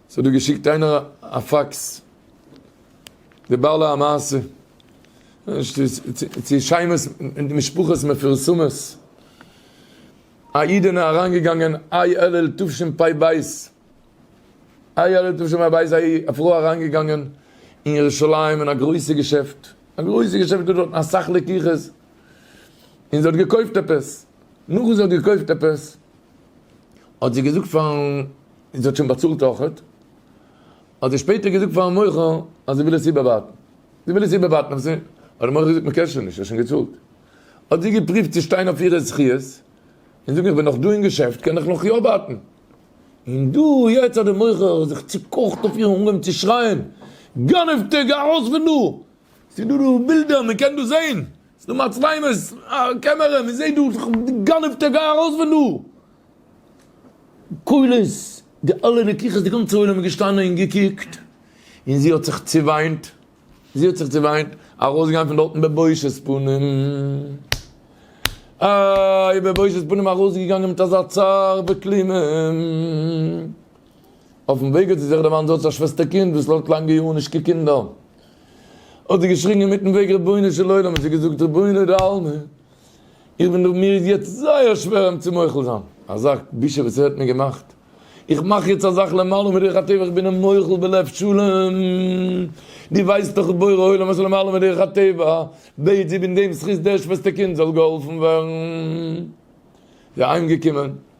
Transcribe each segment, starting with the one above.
ס'האט דא געשיקט איינער א פאקס, די בעלי המעשה, צו שיימעס משפחות מפורסמות, א איד אין אריינגעגאנגען איי אלול תשפ ב, איי אלול תשפ ב איז א פרוי אריינגעגאנגען אין ירושלים אין א גרויסע געשעפט, א גרויסע געשעפט איז דא דארטן אסאך לקוחות, און זי האט געקויפט עפעס, נאכן זי האט געקויפט עפעס, האט זי געזאגט פארן און זי האט שוין באצאלט אויכעט, האט זי שפעטער געזאגט פארן מוכר אז זי וויל עס איבערווארטן, זי וויל עס איבערווארטן אויף זיי, האט דער מוכר געזאגט מען קען שוין נישט, ער האט שוין געצאלט, האט זי געפריווט צו שטיין אויף אירע זכיות און זאגן איך בין נאך דא אין געשעפט קען איך נאך יא ווארטן, און דא יעצט האט דער מוכר זיך צוקאכט אויף איר און אנגעהויבן צו שרייען, גנב'טע גיי ארויס פון דא, ס'איז דא דא בילדער מען קען דא זען, ס'איז דא מצלמות, א קעמערע, מען זעט דא, גנב'טע גיי ארויס פון דא. קולות, די אלע רקיחות, די גאנצע עולם איז געשטאנען און געקוקט, און זי האט זיך צעוויינט, זי האט זיך צעוויינט, ארויסגעגאנגען פון דארטן בבושת פנים, איי, בבושת פנים ארויסגעגאנגען מיט אזא צער וכלימה, אויפן וועג האט זי זיך דערמאנט זי האט א שוועסטער קינד וואס לאזט לאנגע יארן נישט קוקן אין דאר, האט זי געשריגן אינמיטן וועג רבונו של עולם, האט זי געזאגט רבונו דעלמא. איך בין דא, מיר איז יעצט זייער שווער אים צו מוחל זיין, אזא בושה וואס ער האט מיר געמאכט, איך מאך יעצט א זאך למעלה מדרך הטבע, איך בין אים מוחל בלב שלם, דו ווייסט דאך אז בורא עולם עשה למעלה מדרך הטבע, בעת זיבן דעם זכות דער שוועסטער קינד זאל געהאלפן ווערן, זיי אהיים געקומען.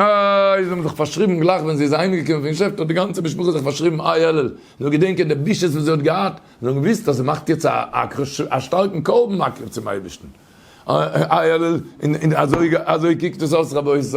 אה, זיי האבן זיך פארשריבן גלייך ווען זי איז אהיימגעקומען פון געשעפט האט די גאנצע משפחה זיך פארשריבן איי עלל, זאל געדענקען די בושות וואס זי האט געהאט, זיי האבן געוואוסט אז זי מאכט יעצט א אקרשט, א שטארקן קרבן מקריב צום אייבערשטן, איי עלל, און אזוי קוקט עס אויס רבותי.